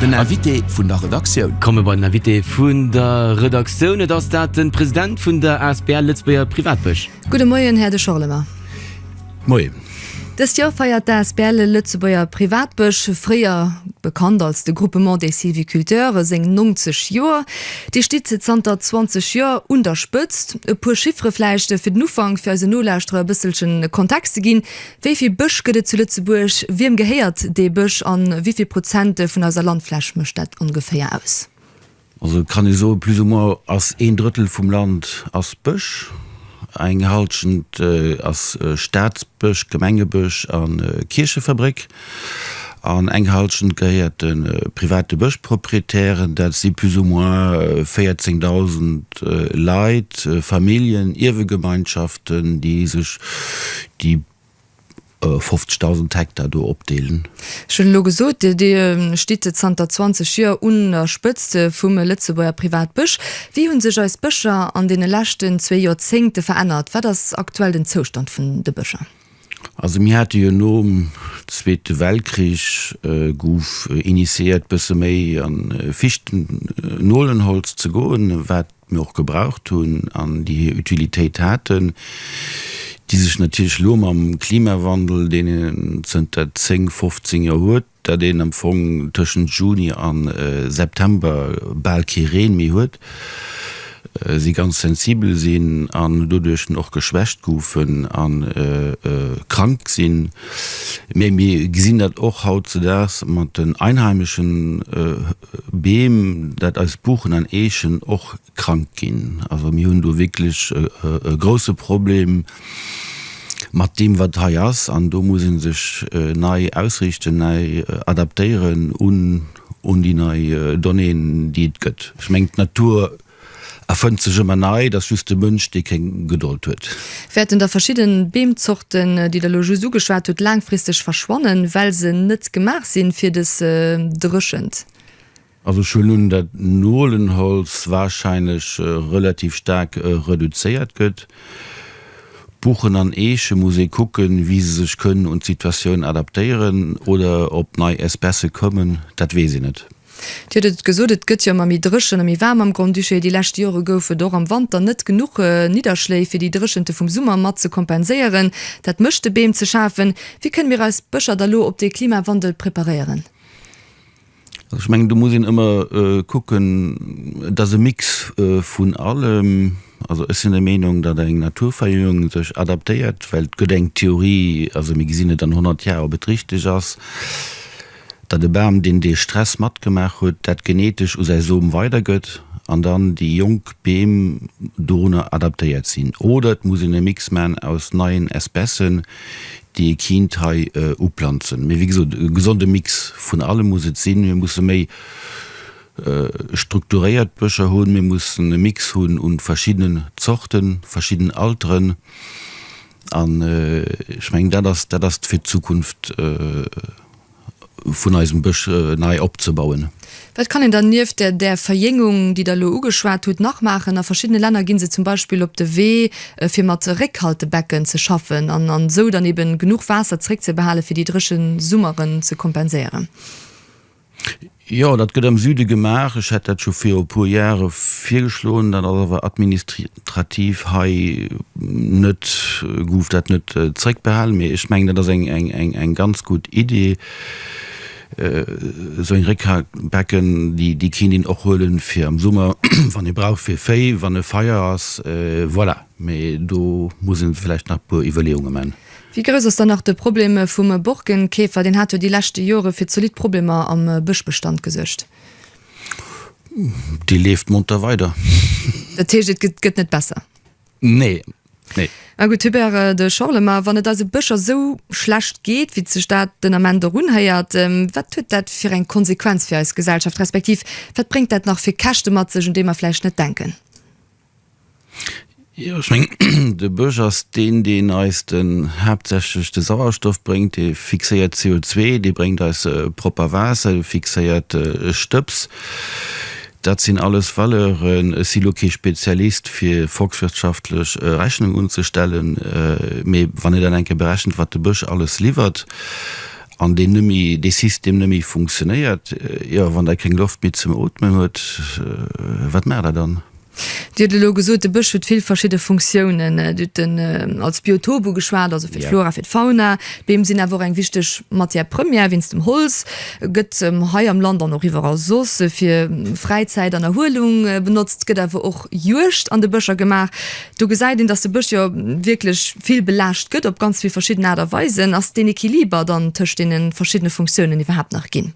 Den Invité vun der Redaktioun. Komme bei den Invité vun der Redaktioun. Et ass dat de President vun der asbl Lëtzebuerger Privatbësch. Gudde Moien, Här De Schorlemer. Moien. Dëst Joer feiert d'asbl Lëtzebuerger Privatbësch, fréier bekannt als de Groupement des Sylviculteurs, seng 90 Joer. Dir stitt zanter 20 Joer un der Spëtzt. E puer Chiffere vläicht fir den Ufank, fir eisen Nolauschterer e bësselchen Kontext ze ginn, Wéi vill Bësch gëtt et zu Lëtzebuerg, wiem gehéiert dee Bësch a wéi vill Prozent vun eiser Landfläch mécht dat ongeféier aus? Also et kann ee soen, plus ou moins ass een Drëttel vum Land ass Bësch, eng Halschent ass Staatsbësch, Gemengebësch a Kierchefabréck an eng Halschent gehéiert de private Bëschproprietären. Dat si plus ou moins 14.000 Leit, Familljen, Ierwegemeinschaften, déi sech Déi 50.000 Hektar do opdeelen. Ech hunn elo gesot, Dir stitt zanter 20 Joer un der Spëtzt vum Lëtzebuerger Privatbësch. Wéi hunn sech eis Bëscher an deene leschten zwee Joerzéngte verännert? Wat ass aktuell den Zoustand vun de Bëscher? Also mir hate jo nom Zweete Weltkrich, gouf initiéiert, bësse méi a Fichtennolenholz ze goen, wat mir och gebraucht hunn an déi hir Utilitéit haten, déi sech natierlech elo mam Klimawandel, deen een zënter 10, 15 Joer huet, dat een am Fong tëschent Juni a September bal kee Reen méi huet, si ganz sensibel sinn an doduerch och geschwächt goufen a krank sinn. Mee mir gesinn dat och hautzedaags mat den Einheimeschen. Beem, dat eis Buchen an Eechen och krank ginn. Also mir hunn do wierklech e grouse Problem mat deem, wat hei ass. An do muss ee sech nei ausriichten, nei adaptéieren un déi nei Donnéeën, déi et gëtt. Ech mengen, d'Natur A fënnt sech ëmmer nei, dass just de Mënsch, dee kéng Gedold huet. Wäerten da verschidden Beemzorten, déi Der elo just ugeschwat hutt, laangfristeg verschwannen, well se net gemaach sinn fir des Dréchent? Also ech huelen un, dat Nolenholz wahrscheinlech relativ staark reduzéiert gëtt. Buchen an Eeche muss ee kucken, wéi se sech kënnen un d'Situatioun adaptéieren oder ob nei Espècë kommen, dat weess ee net. Dir hutt et gesot, et gëtt jo ëmmer méi dréchen a méi waarm am Grand-Duché. Déi lescht Jore gouf et och am Wanter net genuch Nidderschléi, fir déi Dréchente vum Summer mat ze kompenséieren. Dat mécht de Beem ze schafen. Wéi kënne mir eis Bëscher da lo op dee Klimawandel preparéieren? Also ech mengen, do muss een ëmmer kucken, et ass e Mix vun allem. Also ech sinn der Meenung, datt eng Naturverjüngung sech adaptéiert, well et gëtt eng Theorie, also mir gesinn et an honnert Jar, ob et richteg ass, datt e Bam, deen dee Stress matgemaach huet, dat genetesch u säi Som weidergëtt an dann déi jonk Beem dorunner adaptéiert sinn. Oder et muss een e Mix maachen aus neien Espècen, déi ee kiint hei uplanzen. Mee wéi gesot, e gesonde Mix vun allem muss et sinn. Mir musse méi strukturéiert Bëscher hunn, mir mussen e Mix hunn u verschiddenen Zorten, verschidden Alteren. An ech mengen, dat ass, dat ass fir d'Zukunft vun eisem Bësch nei opzebauen. Wat kann een dann nieft der, där Verjéngung, déi Der elo ugeschwat hutt, nach maachen? A verschiddene Länner gi se zum Beispill op de Wee, fir mat Réckhaltebecken ze schaffen an esou dann eeben genuch Waasser zréckzebehalen, fir déi dréchen Summeren ze kompenséieren. Jo, dat gëtt am Süde gemaach. Ech hat dat scho viru puer Jahre virgeschloen. Dat ass awer administrativ hei net, gouf dat net zréckbehalen. Mee ech mengen, dat ass eng ganz gutt Idee. Esou eng Réckhackbecken, déi kéint een och huelen fir am Summer, wann ee brauch fir Véi, wann e Feier ass. Voilà. Mee do muss een vläicht nach e puer Iwwerleeunge man. Wéi grouss ass dann nach de Problem vum Borkenkäfer? Deen hat jo déi leschte Jore fir zolidd Problemer am Bëschbestand gesuergt. Dee leeft monter weider. Dat heescht, et gëtt net besser? Nee, nee. A gutt, Hubert de Schorle, ma wann et eise Bëscher sou schlecht geet, wéi sech dat den Ament och unhéiert, wat huet dat fir eng Konsequenz fir eis Gesellschaft, respektiv wat bréngt dat nach fir Käschte mat sech, un déi mer vläicht net denken? Jo, ech meng, de Bësch ass deen, deen eis de haaptsächlech de Sauerstoff bréngt, dee fixéiert CO2, dee bréngt eis propper Waasser, dee fixéiert Stëbs. Dat sinn alles Valeuren, ech si lo kee Spezialist fir volkswirtschaftlech Rechnung unzestellen, mee wann ee dann eng Kéier berechent, wat de Bësch alles liwwert an deen nëmme dee System nëmme funktionéiert, jo, wann der keng Loft méi zum Ootmen huet, wat maacht der dann? Dir hutt elo gesot, de Bësch huet vill verschidde Funktiounen. Dir hutt en als Biotop ugeschwat, also fir d'Flora, fir d'Fauna. D'Beem sinn awer och eng wichteg Matière première wéinst dem Holz. Gëtt hei am Land an och iwwerall soss fir Fräizäit an Erhuelung benotzt. Gëtt awer och Juegd an de Bëscher gemaach. Do gesäit een, datt de Bësch jo wierklech vill belaascht gëtt op ganz vill verschidden Aart a Weisen. Ass deen Equiliber dann tëscht deene verschiddene Funktiounen iwwerhaapt nach ginn?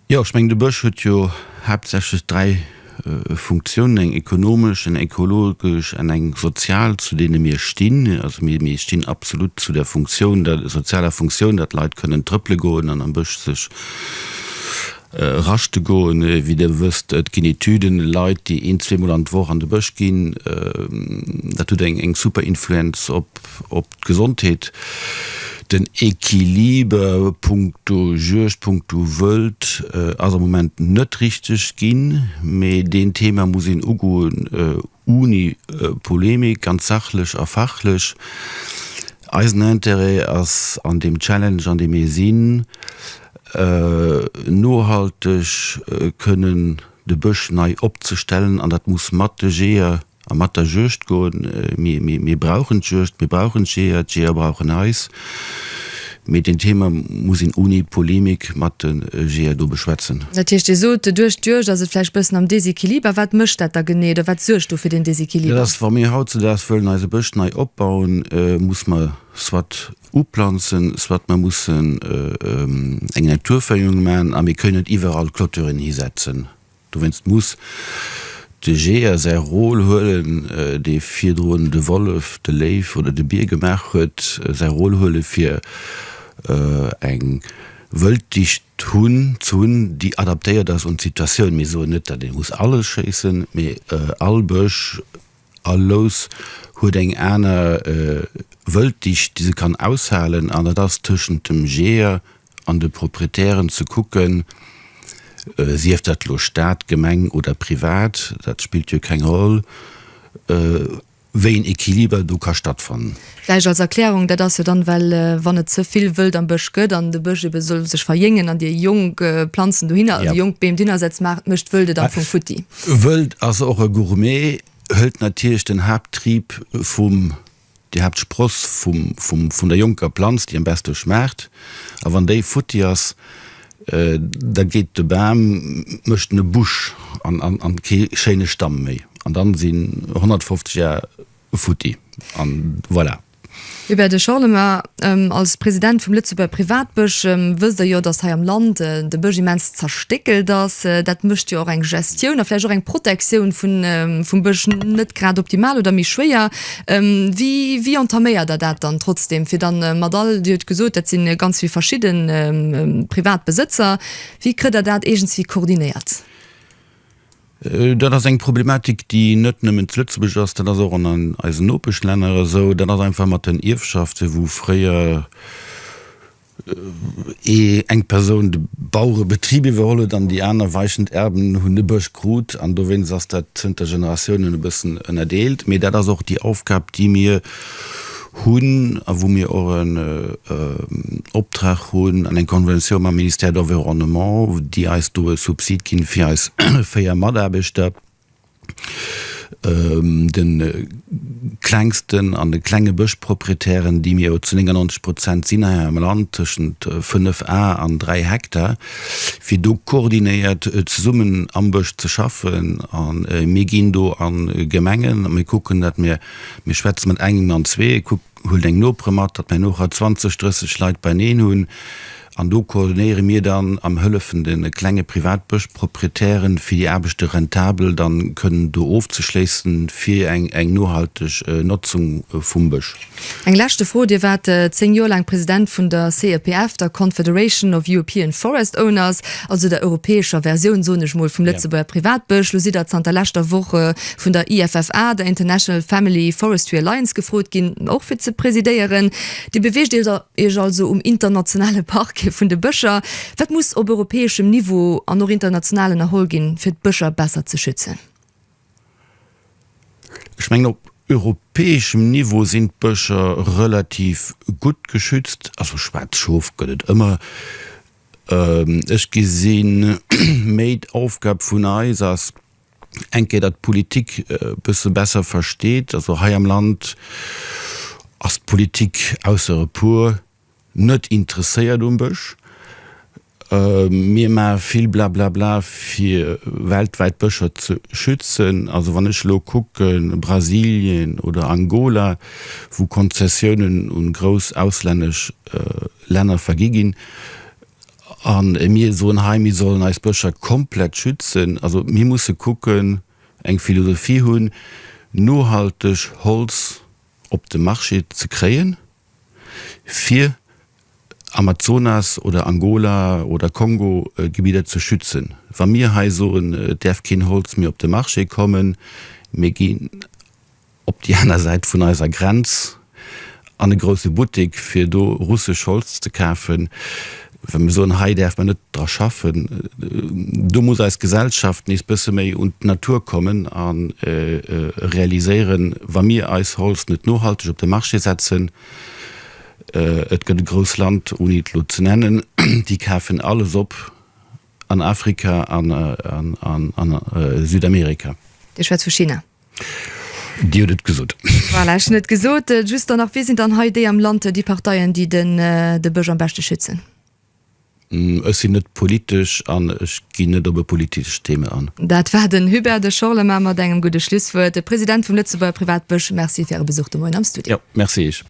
Jo, ech mengen, de Bësch huet jo haaptsächlech dräi Funktiounen, eng ekonomesch, eng ekologesch an eng sozial, zu deene mir stinn. Also mir stinn absolut zu der Funktioun, der sozialer Funktioun, datt d'Leit kënnen trëppele goen an am Bësch sech raschte goen. Wéi Dir wësst, et ginn Etüden, Leit, déi een, zweemol an d'Woch an de Bësch ginn, dat huet eng super Influenz op d'Gesondheet, den Equiliber punkto Juegd, punkto Wëld ass am Moment net richteg ginn, mee deen Thema muss een ugoen ouni Polemik, ganz sachlech a fachlech. Eisen Interêt ass an deem Challenge an deem mir sinn, nohalteg kënnen de Bësch nei opzestellen an dat muss mat de Jeeër, A mat der Juegd goen. Mir brauchen d'Juegd, mir brauchen d'Jeeër, d'Jeeër brauchen eis. Mee deen Thema muss een ouni Polemik mat de Jeeër do beschwätzen. Dat heescht, Dir sot, duerch d'Juegd ass et vläicht e bëssen am Desequiliber. Wat mécht dat da genee oder wat suergt do fir deen Desequiliber? Dat ass, wa mir hautzedaags wëllen eise Bësch nei opbauen, muss mer soit uplanzen, soit mer mussen eng Naturféierung maachen a mir kënnen net iwwerall Clôturen hisetzen. Dowéinst muss de Jeeër säi Rôle huelen, dee virdrun de Wollef, de Léiw oder de Bier gemaach huet, säi Rôle huelen, fir eng Wëlddicht ze hunn, déi adaptéiert ass un d'Situatioun. Mir soen net, datt ee muss alles schéissen, mee all Bësch, all Lous huet eng aner Wëlddicht, déi se kann aushalen, an dat ass tëschent dem Jeeër, an de Proprietären ze kucken, sief dat elo Staat, Gemeng oder privat, dat spillt jo keng Roll, wéi een Equiliber do ka stattfannen. Vläicht als Erklärung, dat ass jo dann, well wann et ze vill Wëld am Bësch gëtt an de Bësch ebe soll sech verjéngen an Dir jonk Planzen dohinner, also jonk Beem dohinner setzt, maacht, mécht d'Wëld et am Fong futti. Wëld ass och e Gourmet, hëlt natierlech den Haapttrieb vum Dir habt d'Spross vum der jonker Planz, déi am beste schmaacht, a wann déi futti ass, da geet de Bam, mécht en e Busch an kee schéine Stamm méi, an dann sin 150 Jar futti, an voilà. Hubert de Schorlemmer, Als President vum Lëtzebuerger Privatbësch wësst Der jo, datt hei am Land de Bësch immens zerstéckelt ass. Dat mécht jo och eng Gestioun a vläicht och eng Protektioun vum Bësch net grad optimal oder méi schwéier. Wéi entaméiert der dat dann trotzdeem, fir dann mat all, Dir hutt gesot, dat si ganz vill verschidde privat Besëtzer, wéi kritt Der dat iergendwéi koordinéiert? Dat ass eng Problematik, déi net nëmmen zu Lëtzebuerg ass, dat ass och an eisen Nopeschlänner esou. Dat ass einfach mat den Ierfschaften, wou fréier, eng Persoun de Bauerebetrib iwwerholl huet an déi aner weichend Erben hunn de Bësch krut an dowéinst ass dat zënter Generatiounen e bëssen ënnerdeelt. Mee dat ass och déi Aufgab, déi mir hunn a wou mir och en Optrag hunn an eng Konventioun mam Ministère d'Environnement, déi eis do e Subsid ginn, fir eis véier Mataarbechter, de klengsten an de klenge Bëschproprietären, déi mir jo zu 99 Prozent sinn hei am Land, tëschent 5 Ar an 3 Hektar, fir do koordinéiert zesummen am Bësch ze schaffen. A mir ginn do a Gemengen a mir kucken, datt mir, mir schwätze mat engem an zwee, kuckt, huelt eng Nopere mat, datt mir nach 20, 30 Leit beieneen hunn, An do koordinéiere mir dann an hëllefen de klenge Privatbëschproprietären, fir déi Aarbechte rentabel dann kënnen do ofzeschléissen, fir eng nohalteg Notzung vum Bësch. Eng leschte Fro, Dir waart 10 Joer laang President vun der CEPF, der Confederation of European Forest Owners, also der europäescher Versioun, soen ech mol, vum Lëtzebuerger Privatbësch. Lo sidd Der zanter leschter Woch vun der IFFA, der International Family Forestry Alliance, gefrot ginn, och fir ze presidéieren. Dir beweegt Iech Iech also um internationale Parquet vun de Bëscher. Wat muss op europäeschem Niveau an och international ënnerholl ginn, fir d'Bëscher besser ze schützen? Ech mengen, op europäeschem Niveau sinn d'Bëscher relativ gutt geschützt. Also schwaarz Schof gëtt et ëmmer. Ech gesi méi d'Aufgab vun eis ass, Eng Kéier datt d'Politik e bësse besser versteet, also hei am Land ass d'Politik, ausser e puer, net interesséiert um Bësch. Mir maache vill Blablabla fir weltwäit d'Bëscher ze schützen. Also wann ech elo kucken, Brasilien oder Angola, wou Konzessiounen un grouss auslännesch Länner vergi ginn, A mir soen hei, mir sollen eis Bëscher komplett schützen. Also mir musse kucken, eng Philosophie hunn, nohalteg Holz op de Marché ze kréien, fir Amazonas oder Angola oder Kongo-Gebidder ze schützen. Wa mir hei soen, et däerf keen Holz méi op de Marché kommen, mir ginn op déi aner Säit vun eiser Grenz an e grousse Buttek, fir do russesch Holz ze kafen, well mir soen, hei däerf mer net dra schaffen. Do muss eis Gesellschaft nees bësse méi un d'Natur kommen a realiséieren, wa mir eis Holz net nohalteg op de Marché setzen, et gëtt e grouss Land, ouni et elo ze nennen, déi kafen alles op an Afrika an an Südamerika. Dir schwätzt vu China. Dir hutt et gesot. Voilà, ech hunn et gesot. Just dann nach, Wie sinn dann hei déi am Land, déi Parteien, déi de Bësch am beschte schützen? Ech sinn net politesch an ech ginn net op e politescht Thema an. Dat war den Hubert de Schorlemer mat engem gudde Schlusswuert, de President vum Lëtzebuerger Privatbësch. Merci fir Äre Besuch de Moien am Studio. Jo, merci Iech.